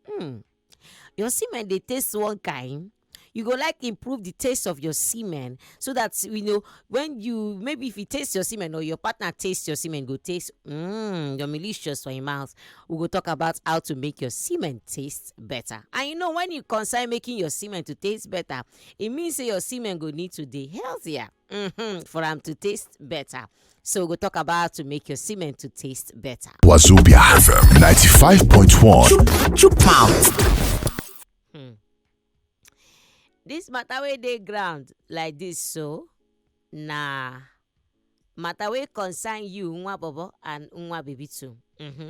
Hmm. Your semen dey taste one kind. You go like improve the taste of your semen so that you know when you maybe if you taste your semen or your partner taste your semen go taste mm, your malicious for your mouth. We go talk about how to make your semen taste better. And you know when you consider making your semen to taste better, it means say your semen go need to be healthier. mm-hmm, for am to taste better. So we'll talk about to make your semen to taste better. Wazobia FM 95.1. Two pounds. Hmm. This matter where they ground like this, so nah matter wey concern you nwa bobo and nwa baby too. Mm-hmm.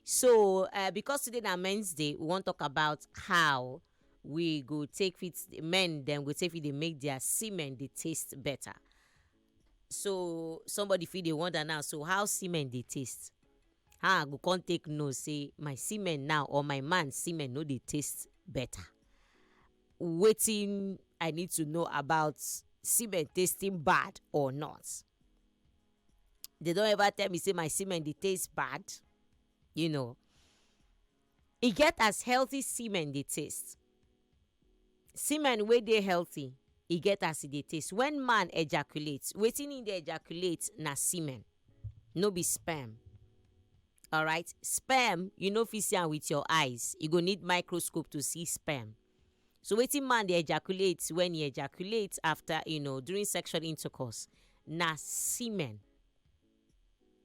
So uh, because today na Men's Day, we wan talk about how we go take fit men dem go take fit dey make their semen dey taste better so somebody fit dey wonder now so how semen dey taste how i go come take know say my semen now or my man semen no dey taste better wetin i need to know about semen tasting bad or not they don ever tell me say my semen dey taste bad you know E get as healthy semen dey taste. Semen wey dey healthy e get as e dey taste. Wen man ejaculate, wetin im dey ejaculate na semen no be sperm alright. Sperm you no fit see am wit your eyes, you go need microscope to see sperm. So wetin man dey ejaculate wen e ejaculate after you know during sexual intercourse na semen.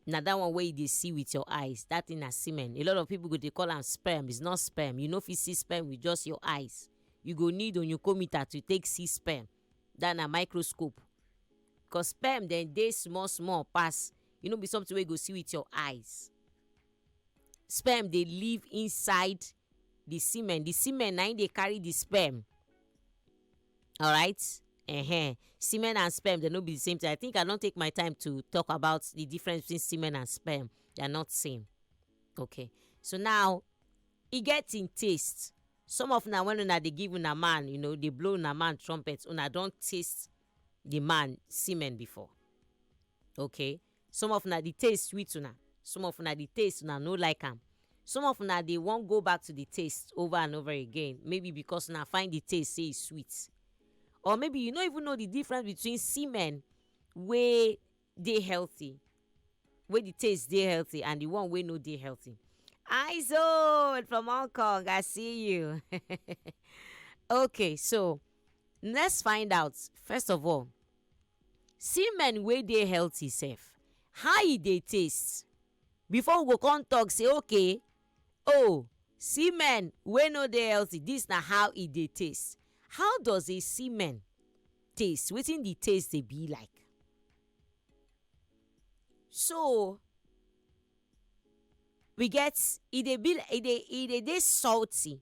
na that one wey you dey see with your eyes that thing na semen a lot of people go dey call am sperm it's not sperm you no fit see sperm with just your eyes you go need onyukometer to take see sperm that na microscope cause sperm dem dey small small pass e no be something wey you go see with your eyes sperm dey live inside the semen the semen na im dey carry the sperm alright uh-huh. semen and sperm they no be the same thing i think i don take my time to talk about the difference between semen and sperm they are not same okay so now e get im taste some of una when una dey give una man you know dey blow una man trumpet una don taste the man semen before okay Some of una di taste sweet una, some of una di taste una no like am, some of una dey wan go back to di taste over and over again maybe because una find di taste say e sweet or maybe you no even know di difference between semen wey dey healthy wey di taste dey healthy and di one wey no dey healthy. Eyes old from Hong Kong, I see you. okay, so let's find out first of all Semen wey dey healthy sef how e dey taste before we go come talk say okay oh semen wey no dey healthy dis na how e dey taste. How does a semen taste? Wetin de taste dey be like? So we get e dey be e dey e dey dey salty.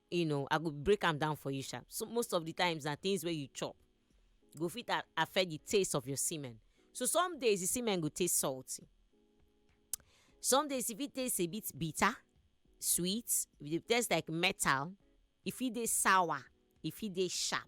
you know i go break am down for you sha so most of the times na things wey you chop go fit a- affect the taste of your semen so some days the semen go taste salty some days e fit taste a bit bitter sweet e dey taste like metal e fit dey sour e fit dey sharp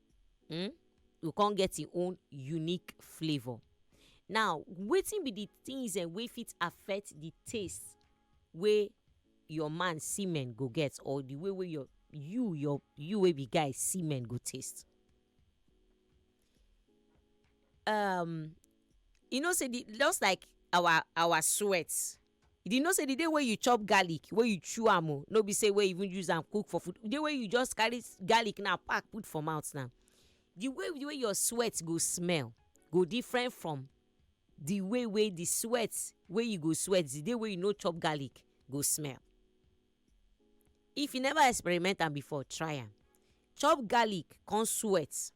um go come get im own unique flavour. Now wetin be the things um wey fit affect the taste wey your man semen go get or the way wey your you your you wey be guy semen go taste? um you know sey the just like our our sweat You dey know say the day wey you chop garlic, wey you chew am o, no be say wey you even use am cook for food, the day wey you just carry garlic now pack put for mouth now, the way the way your sweat go smell go different from the way wey the sweat wey you go sweat the day wey you no chop garlic go smell. If you never experiment am before, try am. Chop garlic con sweat.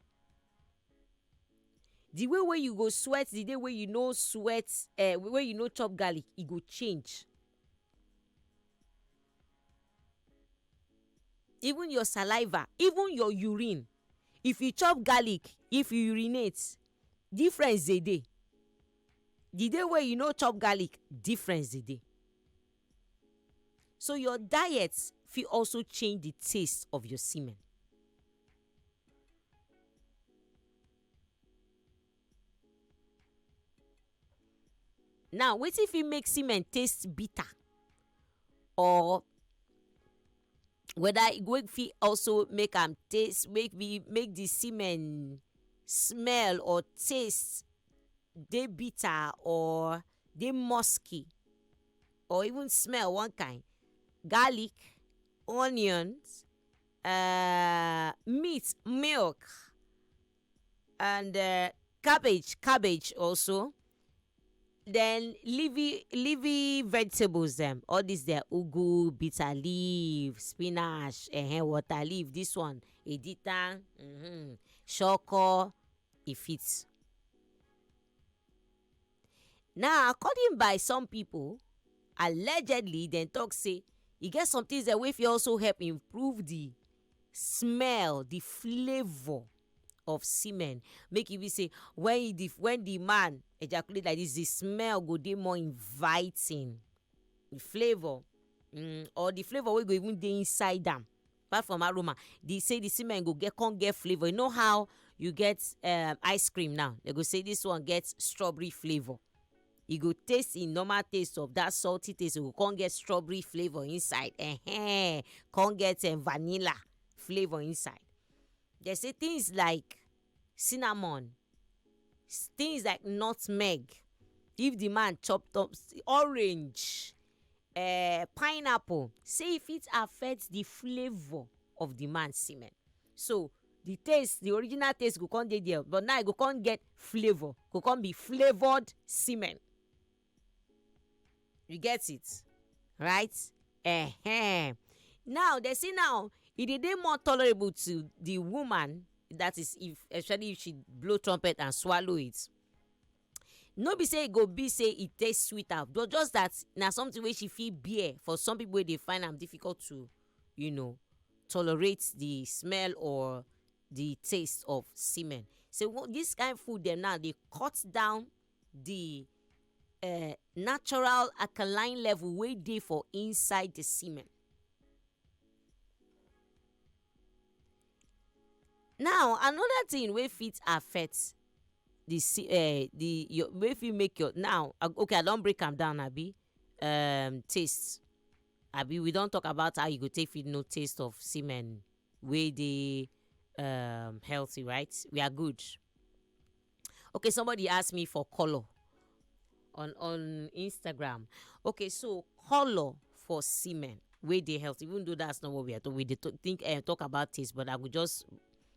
the way wey you go sweat the day wey you no sweat uh, wey you no chop garlic e go change even your saliva even your urine if you chop garlic if you urinate difference dey dey the day wey you no chop garlic difference dey dey So your diet fit also change the taste of your semen. Now wetin fit make semen taste bitter or whether e go fit also make am taste make the make the semen smell or taste dey bitter or dey musky. or even smell one kind garlic onions uh, meat milk and uh, cabbage cabbage also then leafy leafy vegetables them. all this their ugu bitter leaf spinach uh, water leaf this one edita mm-hmm, shoko e fit Now according by some pipo, allegedly dem tok say e get some tins dem wey fit also help improve di smell, di flavour of semen make e be say wen e di wen di man ejaculate like dis di smell go dey more inviting, di flavour um or di flavour wey go even dey inside am apart from aroma the say the semen go get come get flavour you know how you get um, ice cream now they go say this one get strawberry flavour e go taste im normal taste of that salty taste e go come get strawberry flavour inside eh, eh come get um, vanilla flavour inside they say things like cinnamon, things like nutmeg if di man chop top, orange, um pineapple sey e fit affect di flavor of di man semen so di taste di original taste go come dey there but now e go come get flavor e go come be flavoured semen. you get it right uh-huh. now they say now e dey dey more tolerable to the woman that is if especially if she blow trumpet and swallow it no be say e go be say e taste sweet am but just that na something wey she fit bear for some people wey dey find am difficult to you know tolerate the smell or the taste of semen so this kind food dem now dey cut down the uh, natural alkaline level wey dey for inside the semen. Now another thing wey fit affect the se- uh, the your wey fit make your now uh, okay I don break am down abi um, taste abi we don talk about how you go take fit know taste of semen wey dey um, healthy right we are good Okay, somebody asked me for color on on Instagram. Okay, so color for semen wey dey healthy, even though that's not what we are talking. We dey to- think uh, talk about taste, but I will just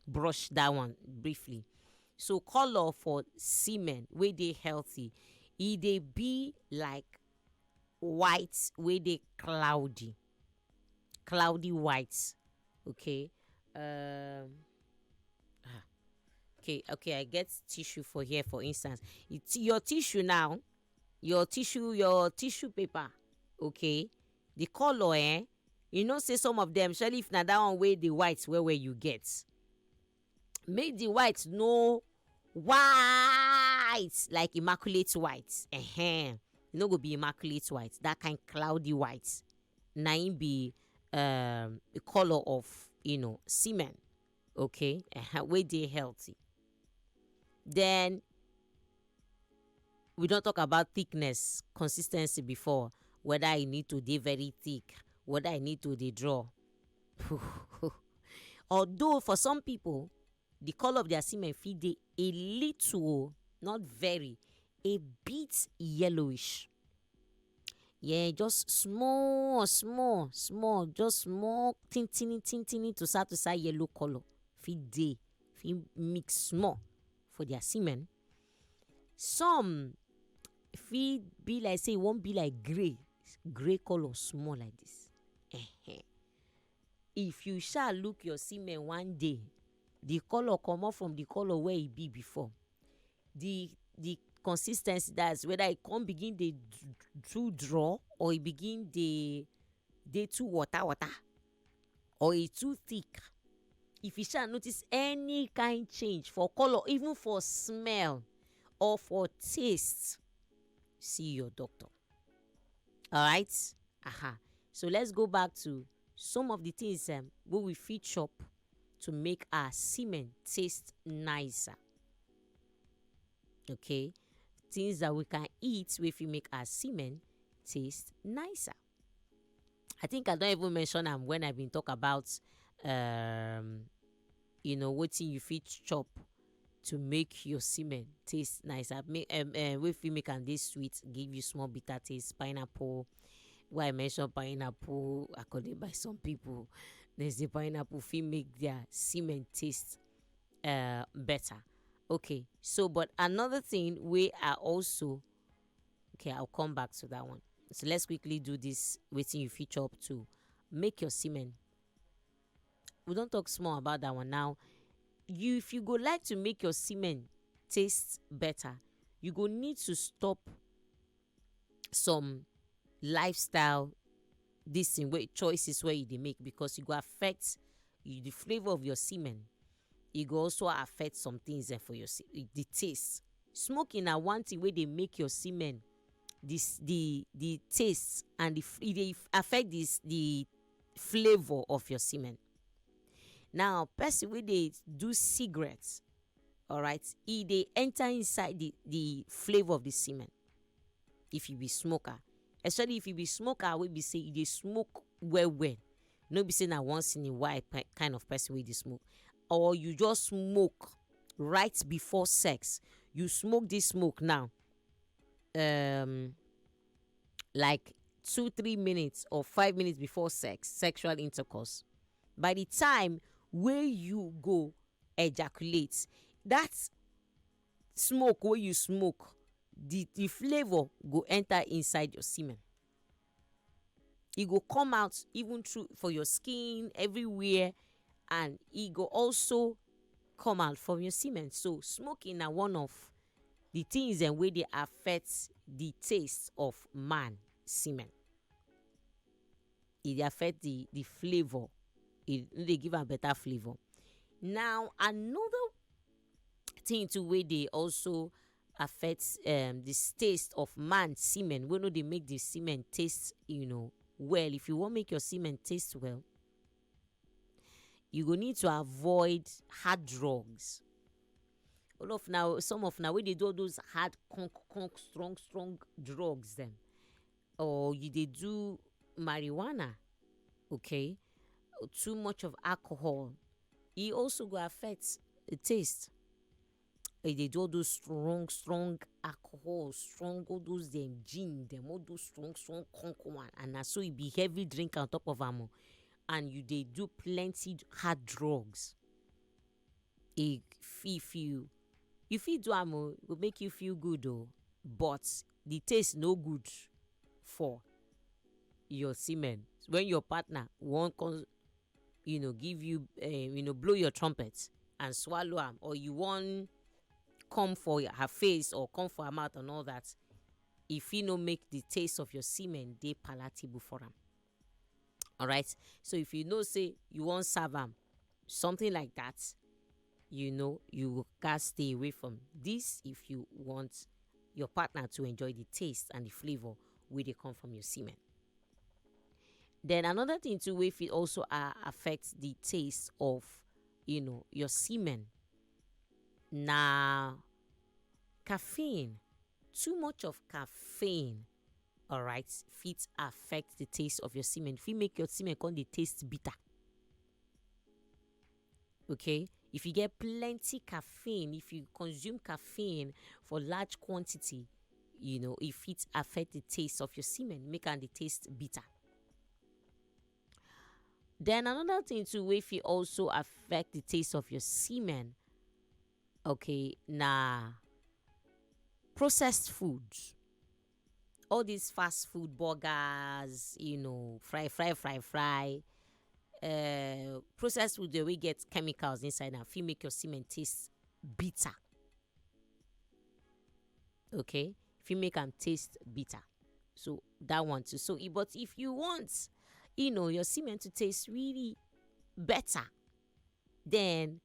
brush that one briefly. So color for semen wey dey healthy, e dey be like white wey dey cloudy. cloudy white okay um, ah, okay okay i get tissue for here for instance it's your tissue now your tissue your tissue paper okay the color eh you know say some of them especially if na that one wey the white well well you get make the white no white like immaculate white uh-huh. e no go be immaculate white that kind cloudy white na im be um, the colour of you know semen okay uh-huh, wey dey healthy then we don talk about thickness consistency before whether e need to dey very thick whether e need to dey draw although for some people the colour of their semen fit dey a little o not very a bit yellowish yeah just small small small just small tintini tintini to start to start yellow colour fit dey fit mix small for their semen some fit be like say e wan be like grey grey colour small like this ehen if you sha look your semen one day the colour comot from the colour wey e be before the the consis ten cy that's whether e come begin dey too draw or e begin dey dey too water water. or e too thick if you sha notice any kind change for colour even for smell or for taste see your doctor alright aha so let's go back to some of the things um, wey we fit chop to make our semen taste nicer okay things that we can eat wey fit make our semen taste nicer I think I don even mention am when I been talk about um, you know wetin you fit chop to make your semen taste nice. I make um, uh, wey fit make am dey sweet, give you small bitter taste, pineapple. Why I mention pineapple according by some people, they say pineapple fit make their semen taste uh, better. Okay, so but another thing wey I also okay i'll come back to that one so let's quickly do this waiting you feature up to make your semen we don't talk small about that one now you if you go like to make your semen taste better you go need to stop some lifestyle this thing wey choices wey you dey make because e go affect you, the flavour of your semen e go also affect some things eh, for your the taste Smoking na one thing wey dey make your semen the the the taste and e dey affect the the flavour of your semen now person wey dey do cigarette alright e dey enter inside the the flavour of the semen if you be smoker especially if you be smoker wey be sey you dey smoke well well no be say na once in a while pe- kind of person wey dey smoke or you just smoke right before sex you smoke this smoke now um, like two three minutes or five minutes before sex sexual intercourse by the time wey you go ejaculate that smoke wey you smoke the the flavour go enter inside your semen e go come out even through for your skin everywhere and e go also come out from your semen so smoking na one of the things dem wey dey affect the taste of man semen e dey affect the the flavour e no dey give am better flavour now another thing too wey dey also affect um, the taste of man semen wey no dey make the semen taste you know well if you wan make your semen taste well you go need to avoid hard drugs all of now some of now wey dey do all those hard conk conk strong strong drugs dem or you dey do marijuana okay too much of alcohol e also go affect the taste e dey do all those strong strong alcohol strong all those dem gin dem all those strong strong conk one and na so e be heavy drinker on top of am o and you dey do plenty hard drugs e fit fi you you fit do am o e go make you feel good o but the taste no good for your semen when your partner wan come. you know give you uh, you know blow your trumpet and swallow am or you wan come for her face or come for her mouth and all that e fit no make the taste of your semen dey palatable for am alright so if you know say you wan serve am something like that you know you gats stay away from this if you want your partner to enjoy the taste and the flavor wey dey come from your semen. Then another thing too wey fit also uh, affect the taste of you know your semen na caffeine. Too much of caffeine alright fit affect the taste of your semen fit make your semen come dey taste bitter. okay if you get plenty caffeine if you consume caffeine for large quantity you know e fit affect the taste of your semen make am dey taste bitter. Then another thing too wey fit also affect the taste of your semen okay na processed food all this fast food burgers you know fry fry fry fry uh, processed food dey wey get chemicals inside am fit make your semen taste bitter okay fit make am taste bitter so that one too so i- but if you want you know your semen to taste really better then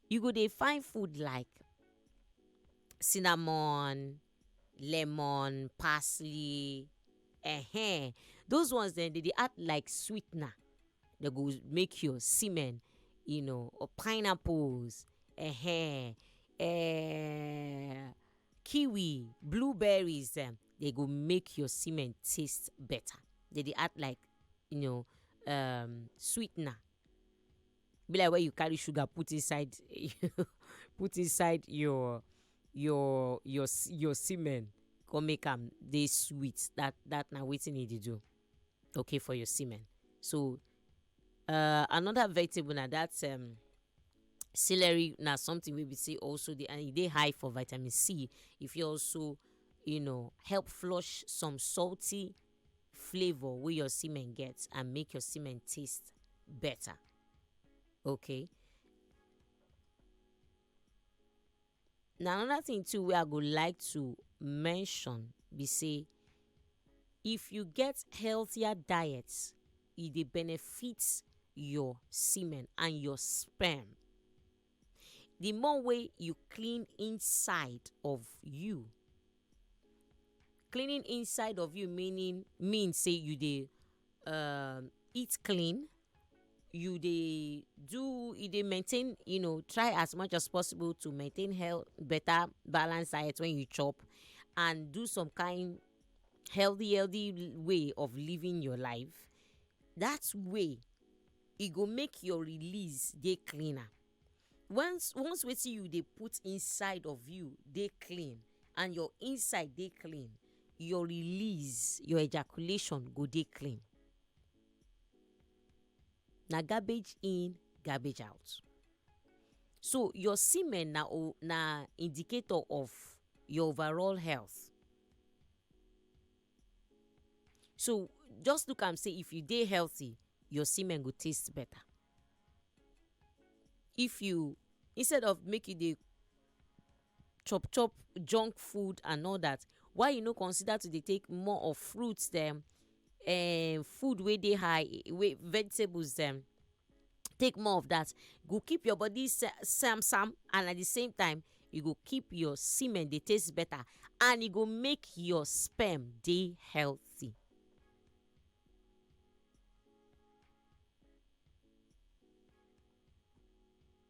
you go dey find food like cinnamon lemon, parsley um those ones dem dey dey act like sweetener dey go make your semen you know or pineapples um kiwi, blueberries dem dey go make your semen taste better dey dey act like you know um sweetener. be like when you carry sugar put inside put inside your your your s- your semen come make am dey sweet that that na wetin e dey do okay for your semen so uh, another vegetable na that um, celery na something wey be say also dey and e dey high for vitamin c e fit also you know help flush some salty flavor wey your semen get and make your semen taste better okay na another thing too wey i go like to mention be say if you get healthier diet e dey benefit your semen and your sperm the more way you clean inside of you cleaning inside of you meaning mean say you dey um, eat clean you dey do you dey maintain you know try as much as possible to maintain health better balance diet when you chop and do some kind healthy healthy way of living your life that way e go make your release dey cleaner once once wetin you dey put inside of you dey clean and your inside dey clean your release your ejaculation go dey clean na garbage in garbage out so your semen na o na indicator of your overall health. so just look am say if you dey healthy your semen go taste better if you instead of make you dey chop chop junk food and all that why you no consider to dey take more of fruits dem um food wey dey high wey vegetables dem. take more of that go keep your body sam sam and at the same time e go keep your semen dey taste better and e go make your sperm dey healthy.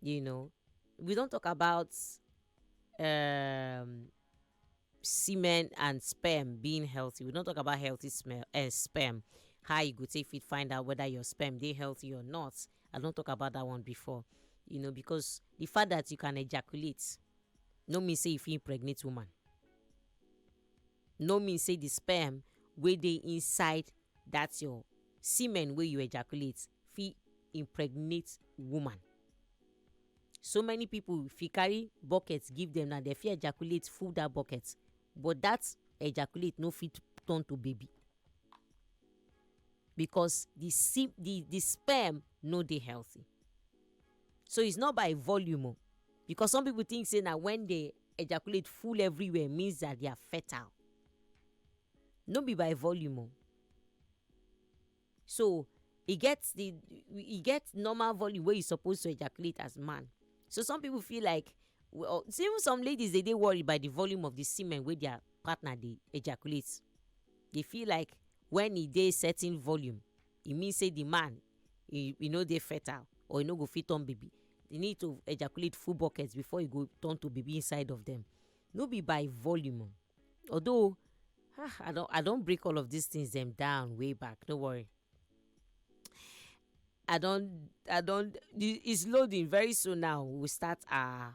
you know we don talk about um, semen and sperm being healthy we don talk about healthy smell, uh, sperm how you go take fit find out whether your sperm dey healthy or not i don talk about that one before you know because the fact that you can ejaculate no mean say you fit impregnate woman no mean say the sperm wey dey inside that your semen wey you ejaculate fit impregnate woman so many people if you carry bucket give them now they fit ejaculate full that bucket but that ejaculate no fit turn to baby because the se the the sperm no dey healthy so it's not by volume o. Because some people think say na when they ejaculate full everywhere means that they are fertile. No be by volume o. So e get the e get normal volume wey you suppose to ejaculate as man. So some people feel like well see even some ladies dey dey worry by the volume of the semen wey their partner dey ejaculate. They feel like when e dey certain volume e mean say the man e e no dey fertile or e no go fit turn baby e need to ejaculate full bucket before e go turn to baby inside of them no be by volume o although ah i don i don break all of these things dem down way back no worry i don i don the it's loading very soon now we will start our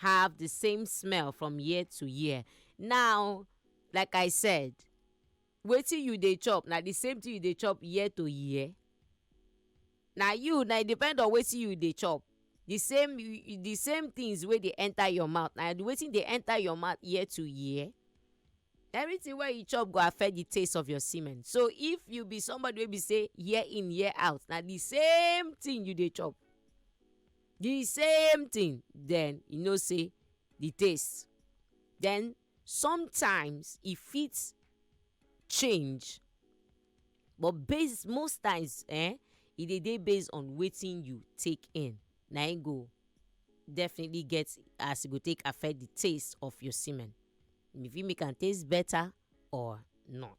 have the same smell from year to year now like i said wetin you dey chop na the same thing you dey chop year to year na you na e depend on wetin you dey chop the same the same things wey dey enter your mouth na wetin dey enter your mouth year to year everything wey you chop go affect the taste of your semen so if you be somebody wey be say year in year out na the same thing you dey chop. the same thing then you know say the taste then sometimes e fit change but base most times eh e dey dey based on wetin you take in na im go definitely get as e go take affect the taste of your semen e fit make am taste better or not.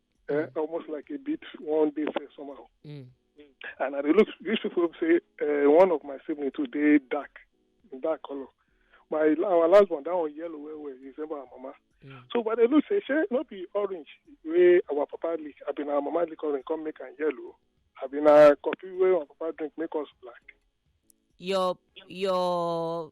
uh, almost like a bit one day fair somehow. Mm. And I look, these people say uh, one of my siblings today dark, dark color. My our last one that one yellow where where is about mama. Mm. So but they look say she not be orange way our papa lick. I been our mama lick orange come make and yellow. I been our coffee way our papa drink make us black. Your your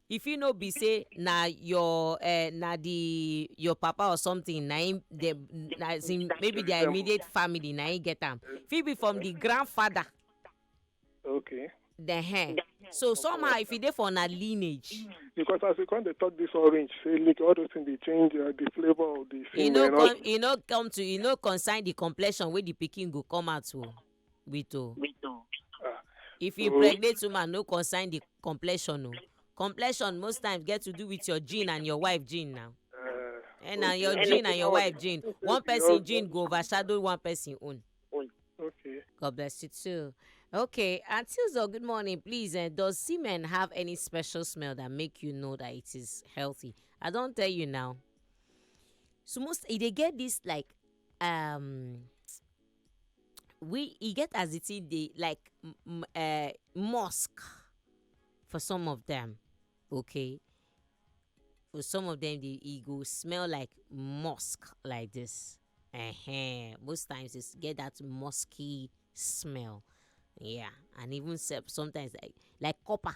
If it no be say na your uh, na the your papa or something na him the na as in maybe their immediate family na him get am. Fit be from the grandfather. Okay. The hair. So somehow if e dey for na lineage. Because as you come dey talk this orange, say look all those things dey change uh, the flavour of the E thing. no and all- come e no come to e no concern the complexion wey the pikin go come out o. wait o ah. if you pregnant woman no concern the complexion o complexion most times get to do with your gene and your wife gene now eh, and na your gene and your wife gene one person gene go overshadow one person own. okay. god bless you too. Okay, Antilzo, good morning. Please, uh, does semen have any special smell that make you know that it is healthy? I don't tell you now. So most eh, they get this like um we e get as the thing dey like um mosque for some of them okay for some of them dey e go smell like mosque like this um most times it's get that musky smell yeah and even self sometimes like like copper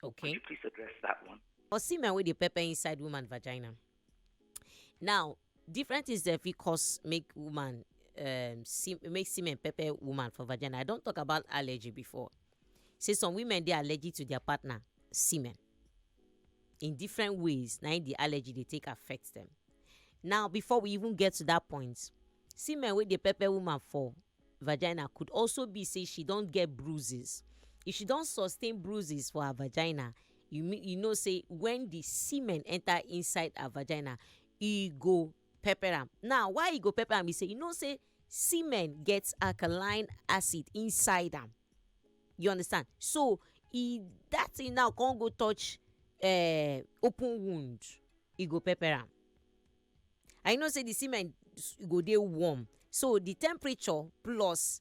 Could Okay. you please address that one? Or semen wey dey pepper inside woman vagina. Now, different things dey fit cause make woman um se make semen pepper woman for vagina. I don talk about allergy before. Say some women dey allergic to their partner semen. In different ways na im the allergy dey take affect dem. Now before we even get to that point, semen wey dey pepper woman for vagina could also be say she don get bruises if she don sustain bruises for her vagina you mean you know say when the semen enter inside her vagina e go pepper am now why e go pepper am be say you know say semen get alkaline acid inside am you understand so e that thing now come go touch uh, open wound e go pepper am and you know say the semen s- go dey warm so the temperature plus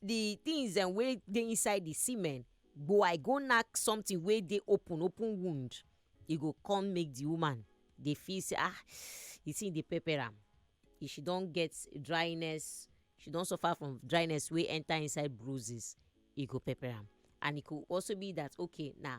the things dem wey dey inside the semen go i go knack something wey dey open open wound e go come make the woman dey feel say ah the thing dey pepper am if she don get dryness she don suffer from dryness wey enter inside bruises e go pepper am and e go also be that okay na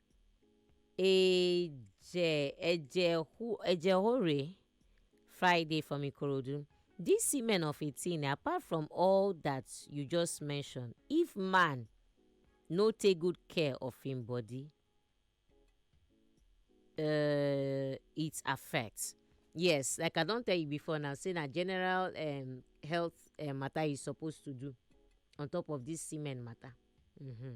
Eje Eje who Eje Hore Friday from Ikorodu. This women of 18 apart from all that you just mentioned if man no take good care of him body uh, it affects. Yes, like I don't tell you before now, say na general um, health uh, matter is supposed to do on top of this semen matter. Mm-hmm.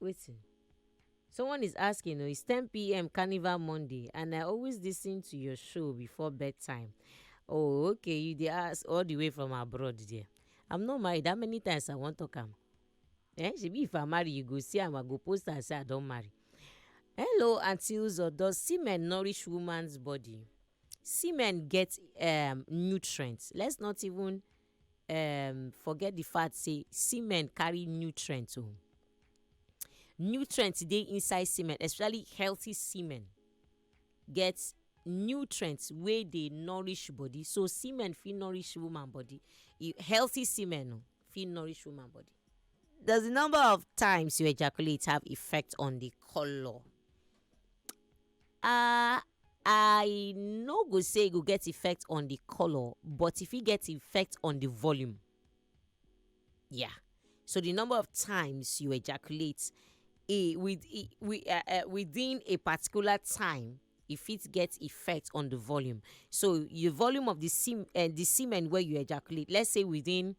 Waiting Someone is asking, oh, it's 10 p.m. Carnival Monday, and I always listen to your show before bedtime. Oh, okay, you dey ask all the way from abroad there. I'm not married. How many times I wan talk am? Eh, shebi if I marry, you go see am, I go post am say I don marry. Hello, Auntie Uzo, does semen nourish woman's body? Semen get um, nutrients. Let's not even um forget the fact say semen carry nutrient o. Oh. Nutrient dey inside semen especially healthy semen get nutrient wey dey nourish body so semen fit nourish woman body e, healthy semen oh, fit nourish woman body. Does the number of times you ejaculate have effect on the color um i no go say e go get effect on the colour but e fit get effect on the volume yeah so the number of times you ejaculate e with e wi- uh, uh, within a particular time e fit get effect on the volume so the volume of the sem uh, the semen wey you ejaculate let's say within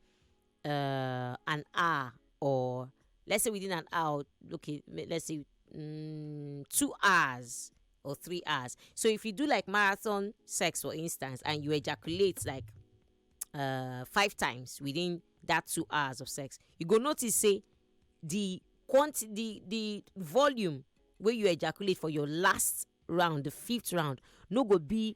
uh, an hour or let's say within an hour okay let's say um, two hours or three hours so if you do like marathon sex for instance and you ejaculate like uh, five times within that two hours of sex you go notice say the quantity the the volume where you ejaculate for your last round the fifth round no go be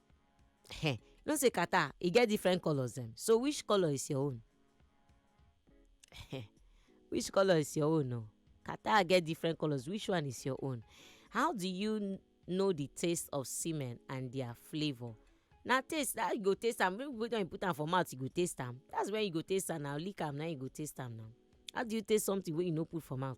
you know say catarrh e get different colours dem so which colour is your own? which colour is your own o catarrh get different colours which one is your own? how do you know the taste of semen and their flavour? na taste that you go taste am when you put am for mouth you go taste am that's when you go taste am na lick am na you go taste am na how do you taste something wey you no put for mouth?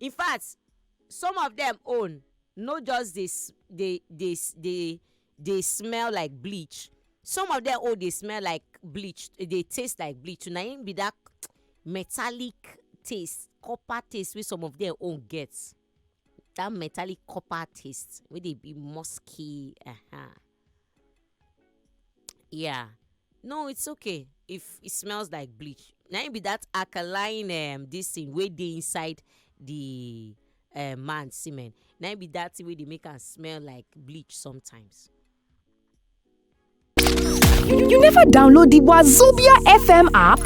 in fact some of them own no just dey dey dey dey dey smell like bleach some of them own dey smell like bleach e dey taste like bleach na im be that metallic taste copper taste wey some of them own get that metallic copper taste wey dey be musky. Uh -huh. Yeah. No, it's okay. If it smells like bleach, now it be that alkaline um this thing wey dey inside the uh, man semen. Now it be that thing wey dey make am smell like bleach sometimes. You never download the Wazobia FM app?